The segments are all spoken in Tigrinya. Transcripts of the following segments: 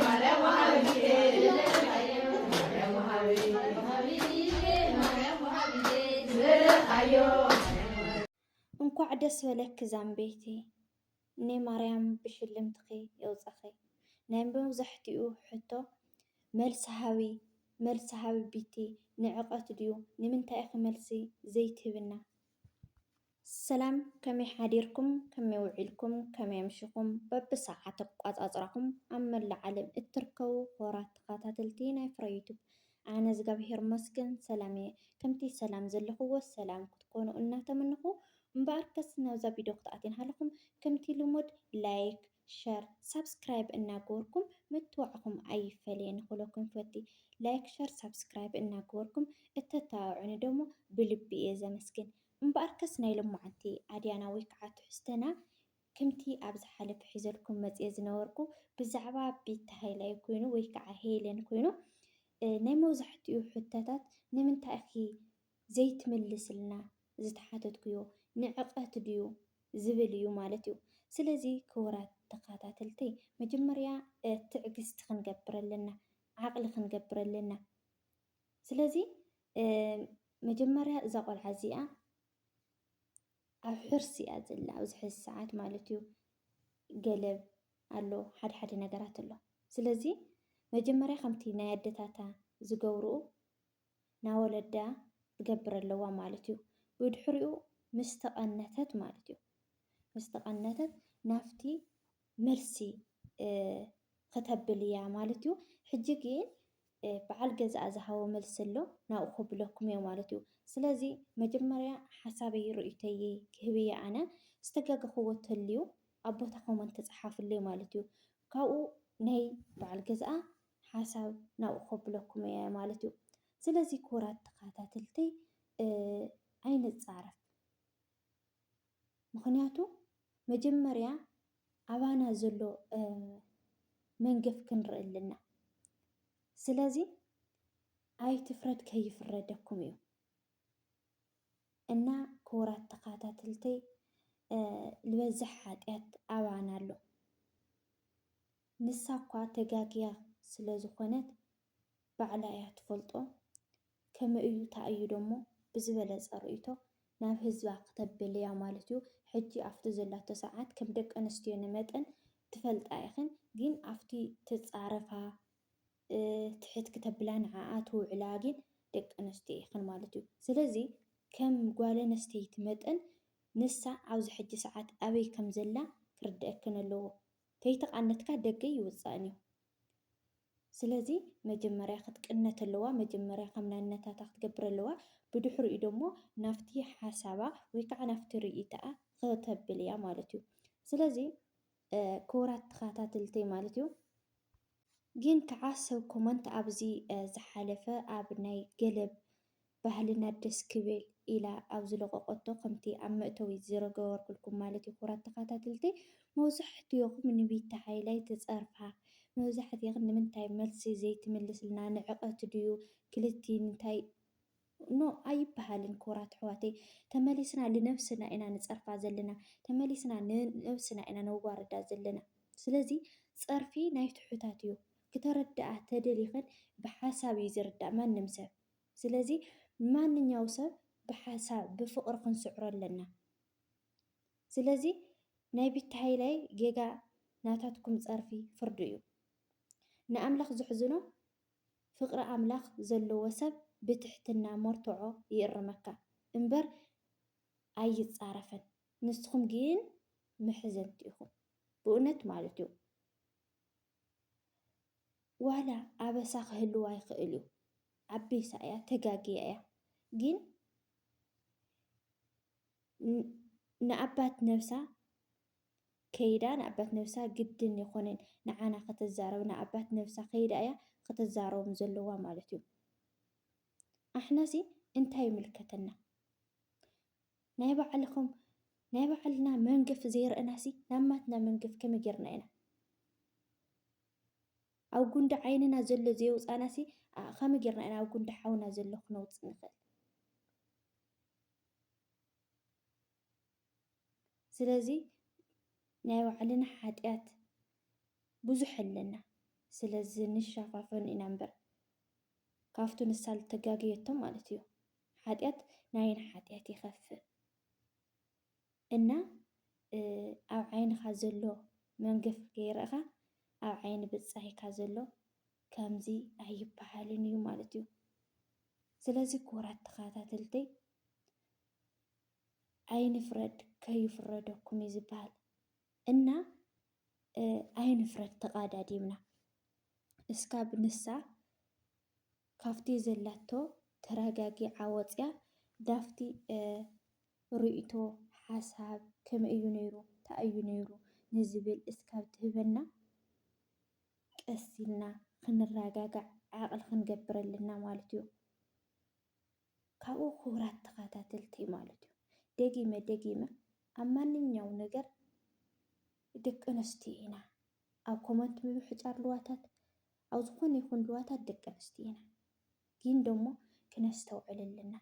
ማርያም ወሃቢየ ማርያም ወሃቢየ ማርያም ወሃቢየ ዝበለኻዮ እንኳዕ ደስ በለኪ ዛምበይቲ ናይ ማርያም ብሽልምትኺ የውፀኺ ናይ መብዛሕትኡ ሕቶ መልሲ ሃቢ መልሲ ሃቢ ቢቲ ንዕቀት ድዩ ንምንታይ ኢኺ መልሲ ዘይትህብና ሰላም ከመይ ሓዲርኩም ከመይ ውዒልኩም ከመይ ኣምሽኹም በቢ ሰዓት ኣቋጻጽራኹም ኣብ መላእ ዓለም እትርከቡ ክቡራት ተኸታተልቲ ናይ ፍረ ዩቱብ ኣነ እዝጋብሄር መስገን ሰላም እየ ከምቲ ሰላም ዘለኹዎ ሰላም ክትኮኑ እናተመንኹ እምበኣርከስ ናብዛ ቪድዮ ክትኣትን ሃለኹም ከምቲ ልሙድ ላይክ ሸር ሳብስክራይብ እናገበርኩም ምትዋዕኹም ኣይፈለየ ንክለኩም ፈቲ ላይክ ሸር ሳብስክራይብ እናገበርኩም እተተባብዑኒ ደሞ ብልቢ እየ ዘመስግን እምበኣርከስ ናይ ሎማዓንቲ ኣድያና ወይ ከዓ ትሕዝቶና ክምቲ ኣብ ዝሓለፈ ሒዘልኩም መፅየ ዝነበርኩ ብዛዕባ ቤቲ ሃይላይ ኮይኑ ወይ ከዓ ሄለን ኮይኑ ናይ መብዛሕቲኡ ሕቶታት ንምንታይ ኢኺ ዘይትምልስልና ዝተሓተትኩዮ ንዕቀት ድዩ ዝብል እዩ ማለት እዩ ስለዚ ክቡራት ተኻታተልተይ መጀመርያ ትዕግስቲ ክንገብር ኣለና ዓቕሊ ክንገብር ኣለና ስለዚ መጀመርያ እዛ ቆልዓ እዚኣ ኣብ ሕርሲ እያ ዘላ ኣብዚ ሕዚ ሰዓት ማለት እዩ። ገለብ ኣሎ ሓደ ሓደ ነገራት ኣሎ። ስለዚ መጀመርያ ከምቲ ናይ ኣደታታ ዝገብርኡ ናወለዳ ትገብር ኣለዋ ማለት እዩ። ብድሕሪኡ ምስ ተቐነተት ማለት እዩ ምስ ተቐነተት ናብቲ መልሲ ኽተብል እያ ማለት እዩ። ሕጂ ግን በዓል ገዛኣ ዝሃቦ መልሲ ኣሎ ናብኡ ከብለኩም እየ ማለት እዩ። ስለዚ መጀመርያ ሓሳበይ ርእይቶይ ክህብ እየ ኣነ ዝተጋገኽዎ ተልዩ ኣብ ቦታ ኮመንት ፀሓፍለይ ማለት እዩ። ካብኡ ናይ በዓል ገዛኣ ሓሳብ ናብኡ ከብለኩም እየ ማለት እዩ። ስለዚ ክቡራት ተኸታተልተይ ኣይንፃረፍ። ምኽንያቱ መጀመርያ ኣባና ዘሎ መንገፍ ክንርኢ ኣለና። ስለዚ ኣይትፍረድ ከይፍረደኩም እዩ እና ክቡራት ተኸታተልተይ ዝበዝሕ ሓጢኣት ኣባና ኣሎ። ንሳ እኳ ተጋግያ ስለ ዝኾነት ባዕላ እያ ትፈልጦ ከመይ እዩ ታይ እዩ ደሞ ብዝበለፀ ርእይቶ ናብ ህዝባ ክተብል እያ ማለት እዩ ሕጂ ኣፍቲ ዘላቶ ሰዓት ከም ደቂ ኣንስትዮ ንመጠን ትፈልጣ ኢኽን ግን ኣፍቲ ትፃረፋ ትሕት ክተብላ ንዓኣ ትውዕላ ግን ደቂ ኣንስትዮ ኢኽን ማለት እዩ ስለዚ ከም ጓል ኣንስተይቲ መጠን ንሳ ኣብዚ ሕጂ ሰዓት ኣበይ ከም ዘላ ክርደኣክን ኣለዎ ከይተቃነትካ ደገ ኣይውጻእን እዩ ስለዚ መጀመርያ ክትቅነት ኣለዋ መጀመርያ ከም ናነታታ ክትገብር ኣለዋ ብድሕሪኡ ደሞ ናብቲ ሓሳባ ወይ ከዓ ናብቲ ሪኢታኣ ከተብል እያ ማለት እዩ ስለዚ ክቡራት ተኸታተልተይ ማለት እዩ ግን ከዓ ሰብ ኮመንት ኣብዚ ዝሓለፈ ኣብ ናይ ገለብ ባህልና ደስ ክብል ኢላ ኣብ ዝለቆቆቶ ከምቲ ኣብ መእተዊ ዝረገበርኩልኩም ማለት እዩ ኩራት ተካታትልቲ መውዛሕትኦኹም ንቢቲ ሃይላይ ትጸርፋ መብዛሕትክን ንምንታይ መልሲ ዘይትምልስልና ንዕቀት ድዩ ክልቲን እንታይ ኖ ኣይብሃልን ኩራት ኣሕዋተይ ተመሊስና ልነብስና ኢና ንጸርፋ ዘለና ተመሊስና ንነብስና ኢና ነዋርዳ ዘለና ስለዚ ጸርፊ ናይ ትሑታት እዩ ክተረድኣ ተደሊክን ብሓሳብ እዩ ዝርዳእ ማንም ሰብ ስለዚ ማንኛው ሰብ ብሓሳብ ብፍቅሪ ክንስዕሮ ኣለና ስለዚ ናይ ቢቲ ሃይላይ ጌጋ ናታትኩም ጸርፊ ፍርዱ እዩ ንኣምላኽ ዝሕዝኖ ፍቅሪ ኣምላኽ ዘለዎ ሰብ ብትሕትና ሞርቶዖ ይእርመካ እምበር ኣይጻረፍን ንስኩም ግን መሕዘንቲ ኢኩም ብኡነት ማለት እዩ። ዋላ ኣበሳ ክህልዋ ይክእል እዩ ኣቢሳ እያ ተጋግያ እያ ግን ንኣባት ነብሳ ከይዳ ንኣባት ነብሳ ግድን ይኮነን ንዓና ከተዛረብ ንኣባት ነብሳ ከይዳ እያ ከተዛረቦም ዘለዋ ማለት እዩ ኣሕናሲ እንታይ ይምልከተና ናይ ባዕልኹም ናይ ባዕልና መንገፍ ዘይረእናሲ ናብ ማትና መንገፍ ከመይ ጌርና ኢና ኣብ ጉንዲ ዓይንና ዘሎ ዘየውፃእናሲ ከመይ ጌርና ኢና ኣብ ጉንዲ ሓውና ዘሎ ክነውፅእ ንኽእል ስለዚ ናይ ባዕልና ሓጢኣት ብዙሕ ኣለና ስለዚ ንሸፋፈኑ ኢና እምበር ካብቱ ንሳ ዝተጋገየቶ ማለት እዩ ሓጢኣት ናይን ሓጢኣት ይኸፍእ እና ኣብ ዓይንኻ ዘሎ መንገፊ ከይረእኻ ኣብ ዓይኒ ብጻይካ ዘሎ ከምዚ ኣይበሃልን እዩ ማለት እዩ። ስለዚ ክቡራት ተኸታተልተይ ኣይንፍረድ ከይፍረደኩም እዩ ዝበሃል እና ኣይንፍረድ ተቓዳዲምና እስካብ ንሳ ካፍቲ ዘላቶ ተራጋጊዓ ወጽያ ዳፍቲ ሪኢቶ ሓሳብ ከመይ እዩ ነይሩ ታይ እዩ ነይሩ ንዝብል እስካብ ትህበና ቀስ ኢልና ክንራጋጋዕ ዓቅሊ ክንገብር ኣለና ማለት እዩ ካብኡ ክቡራት ተካታተልተይ ማለት እዩ ደጊመ ደጊመ ኣብ ማንኛው ነገር ደቂ ኣንስትዮ ኢና ኣብ ኮመንት ምብሕጫር ልዋታት ኣብ ዝኾነ ይኹን ልዋታት ደቂ ኣንስትዮ ኢና ግን ደሞ ክነስተውዕል ኣለና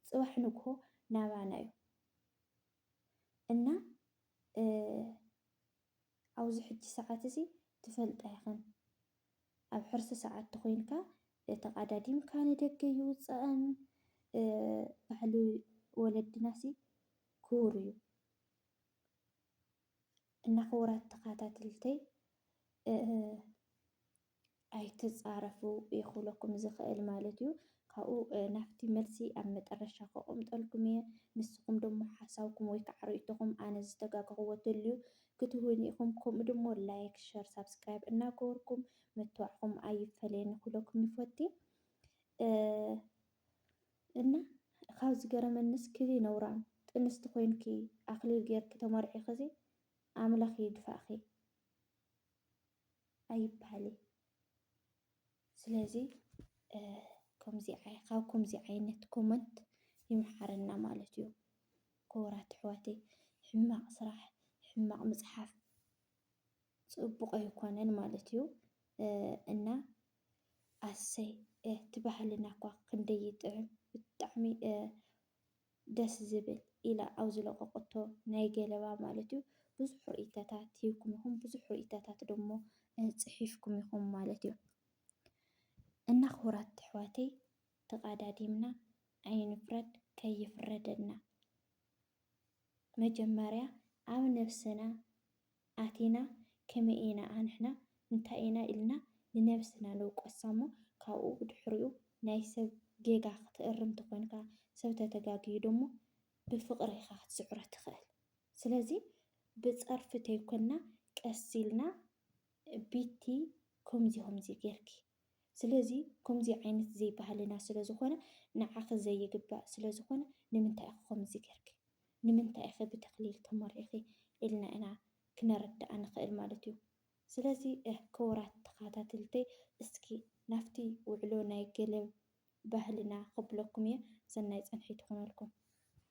ጽባሕ ንግሆ ናባና እዩ እና ኣብዚ ሕጂ ሰዓት እዚ ትፈልጣ ኢኽን ኣብ ሕርሲ ሰዓት ተኾይንካ ተቃዳዲምካ ንደገ ይውጸእን ባህሊ ወለድናሲ ክቡር እዩ። እና ክቡራት ተኻታትልተይ ኣይትጻረፉ ይኹለኩም ዝኽእል ማለት እዩ። ካብኡ ናብቲ መልሲ ኣብ መጠረሻ ከቆምጠልኩም እየ። ንስኹም ደሞ ሓሳብኩም ወይ ከዓ ርእይቶኹም ኣነ ዝተጋገኹዎ ተልዩ ክትህቡኒ ኢኹም። ከምኡ ደሞ ላይክ፣ ሸር፣ ሳብስክራይብ እናገበርኩም ምትባዕኹም ኣይፈለየኒ ክብለኩም ይፈቲ። እና ካብ ዝገረመኒስ ክብይ ነውራም ጥንስቲ ኮይንኪ ኣክሊል ገርኪ ተመርዒክዚ ኣምላክ ይድፋእኪ ኣይብሃል እዩ ስለዚ ከምዚ ካብ ከምዚ ዓይነት ኮመንት ይምሓረና ማለት እዩ ክቡራት ኣሕዋተይ ሕማቅ ስራሕ ሕማቅ ምፅሓፍ ፅቡቅ ኣይኮነን ማለት እዩ እና ኣሰይ እቲ ባህልና እኳ ክንደይ ይጥዕም ብጣዕሚ ደስ ዝብል ኢላ ኣብ ዝለቀቀቶ ናይ ገለባ ማለት እዩ ብዙሕ ርኢተታት ሂብኩም ኢኹም ብዙሕ ርኢተታት ደሞ ጽሒፍኩም ኢኹም ማለት እዩ እና ክቡራት ኣሕዋተይ ተቃዳዲምና ኣይንፍረድ ከይፍረደና መጀመርያ ኣብ ነብስና ኣቲና ከመይ ኢና ኣንሕና እንታይ ኢና ኢልና ንነብስና ንውቀሳ እሞ ካብኡ ብድሕሪኡ ናይ ሰብ ጌጋ ክትእርም ተኮንካ ሰብ ተተጋግዩ ደሞ ብፍቅሪ ኢካ ክትስዕሮ ትክእል ስለዚ ብጸርፊ ተይኮና ቀስ ኢልና ቢቲ ኮምዚ ኮምዚ ጌርኪ ስለዚ ኮምዚ ዓይነት ዘይ ባህልና ስለ ዝኮነ ንዓኺ ዘይግባእ ስለ ዝኮነ ንምንታይ ኢኺ ኮምዚ ገርኪ ንምንታይ ኢኺ ብተክሊል ተመርዒኺ ኢልና ኢና ክነረዳኣ ንክእል ማለት እዩ ስለዚ ክቡራት ተካታትልተይ እስኪ ናብቲ ውዕሎ ናይ ገለ ባህልና ከብለኩም እየ ሰናይ ጸንሒት ይኩነልኩም።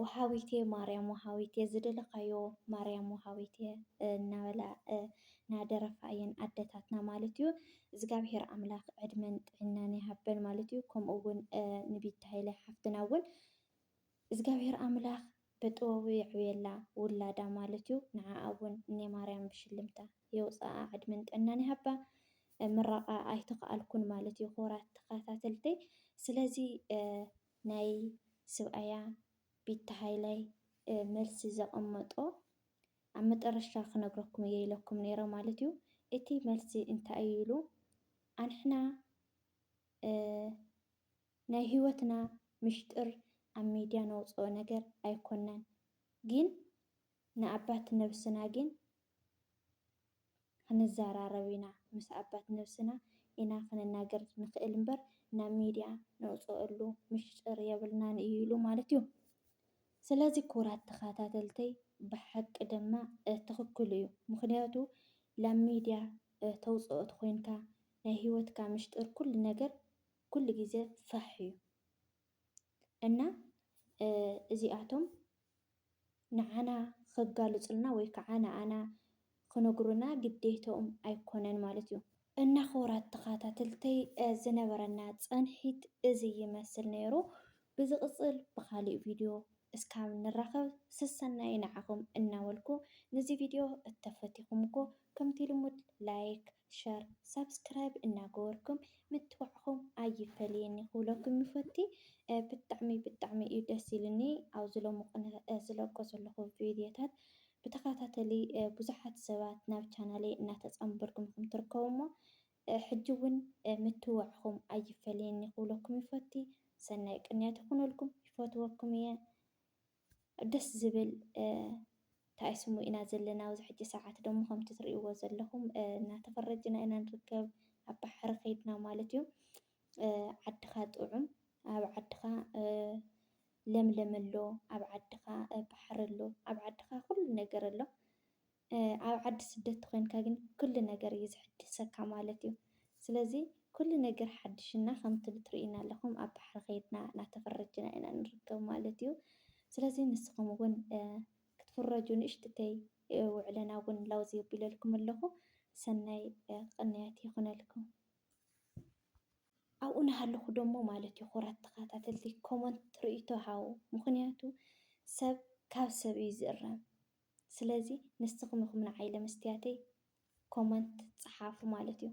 ወሃቢቴ ማርያም ወሃቢቴ ዝደለኻዮ ማርያም ወሃቢቴ እናበላ ናደረፋ እየን ኣደታትና ማለት እዩ። እዝጋብሄር ኣምላክ ዕድመን ጥዒናን ይሃበን ማለት እዩ። ከምኡ እውን ንቢቲ ሃይለ ሓፍትና እውን እዝጋብሄር ኣምላክ ብጥበቡ የዕብየላ ውላዳ ማለት እዩ። ንዓኣ እውን እኔ ማርያም ብሽልምታ የውፅኣ ዕድመን ጥዕናን ይሃባ። ምረቓ ኣይተኸኣልኩን ማለት እዩ ክቡራት ተኸታተልተይ። ስለዚ ናይ ስብኣያ ቢቲ ሃይላይ መልሲ ዘቀመጦ ኣብ መጠረሽታ ክነግረኩም እየ ኢለኩም ነይረ ማለት እዩ እቲ መልሲ እንታይ እዩ ኢሉ ኣንሕና ናይ ሂወትና ምሽጥር ኣብ ሚድያ ነውፀኦ ነገር ኣይኮናን ጊን ንኣባት ነብስና ጊን ክንዘራረብ ኢና ምስ ኣባት ነብስና ኢና ክንናገር ንኽእል እምበር ናብ ሚድያ ነውፀኣሉ ምሽጥር የብልናን እዩ ኢሉ ማለት እዩ ስለዚ ክቡራት ተኻታተልተይ ብሓቂ ድማ ትኽክሉ እዩ ምኽንያቱ ላብ ሚድያ ተውፀኦ ተኾይንካ ናይ ሂወትካ ምሽጥር ኩሉ ነገር ኩሉ ግዜ ፋሕ እዩ እና እዚኣቶም ንዓና ኸጋልጹልና ወይ ከዓ ንኣና ኽነግሩና ግዴትኦም ኣይኮነን ማለት እዩ። እና ኽቡራት ተኻታትልተይ ዝነበረና ጸንሒት እዚ ይመስል ነይሩ ብዝቅጽል ብኻሊእ ቪድዮ እስካብ ንራኸብ ስሰናዩ ንዓኹም እናበልኩ ንዚ ቪድዮ እተፈቲኹምዎ ከምቲ ልሙድ ላይክ ሸር ሳብስክራይብ እናገበርኩም ምትባዕኹም ኣይፈለየኒ ክብለኩም ይፈቲ ብጣዕሚ ብጣዕሚ እዩ ደስ ኢሉኒ ኣብዚ ሎሚ ቅነ ዝለቆ ዘለኹ ቪድዮታት ብተኸታተሊ ብዙሓት ሰባት ናብ ቻናለይ እናተፃምበርኩም ኢኹም ትርከቡ እሞ ሕጂ እውን ምትባዕኹም ኣይፈለየኒ ክብለኩም ይፈቲ ሰናይ ቅንያት ይኹነልኩም ይፈትወኩም እየ ደስ ዝብል ታይ ስሙ ኢና ዘለና ኣብዚ ሕጂ ሰዓት ደሞ ከምቲ ትርእይዎ ዘለኹም እናተፈረጅና ኢና ንርከብ ኣብ ባሕሪ ከይድና ማለት እዩ ዓድኻ ጥዑም ኣብ ዓድኻ ለምለም ኣሎ ኣብ ዓድኻ ባሕሪ ኣሎ ኣብ ዓድኻ ኩሉ ነገር ኣሎ ኣብ ዓዲ ስደት ተኮይንካ ግን ኩሉ ነገር እዩ ዝሕድሰካ ማለት እዩ ስለዚ ኩሉ ነገር ሓድሽ እና ከምቲ ብትሪኡና ኣለኩም ኣብ ባሕሪ ከይድና ናተፈረጅና ኢና ንርከብ ማለት እዩ ስለዚ ንስኩም እውን ክትፍረጁ ንእሽትተይ ውዕለና እውን ላውዝ የቢለልኩም ኣለኩ ሰናይ ቅንያት ይኩነልኩም። ኣብኡ ናሃለኩ ደሞ ማለት እዩ ኩራት ተካታተልቲ ኮመንት ሪኢቶ ሃቡ ምኩንያቱ ሰብ ካብ ሰብ እዩ ዝእረም ስለዚ ንስኩም ኢኩም ንዓይ ለመስትያተይ ኮመንት ጸሓፉ ማለት እዩ።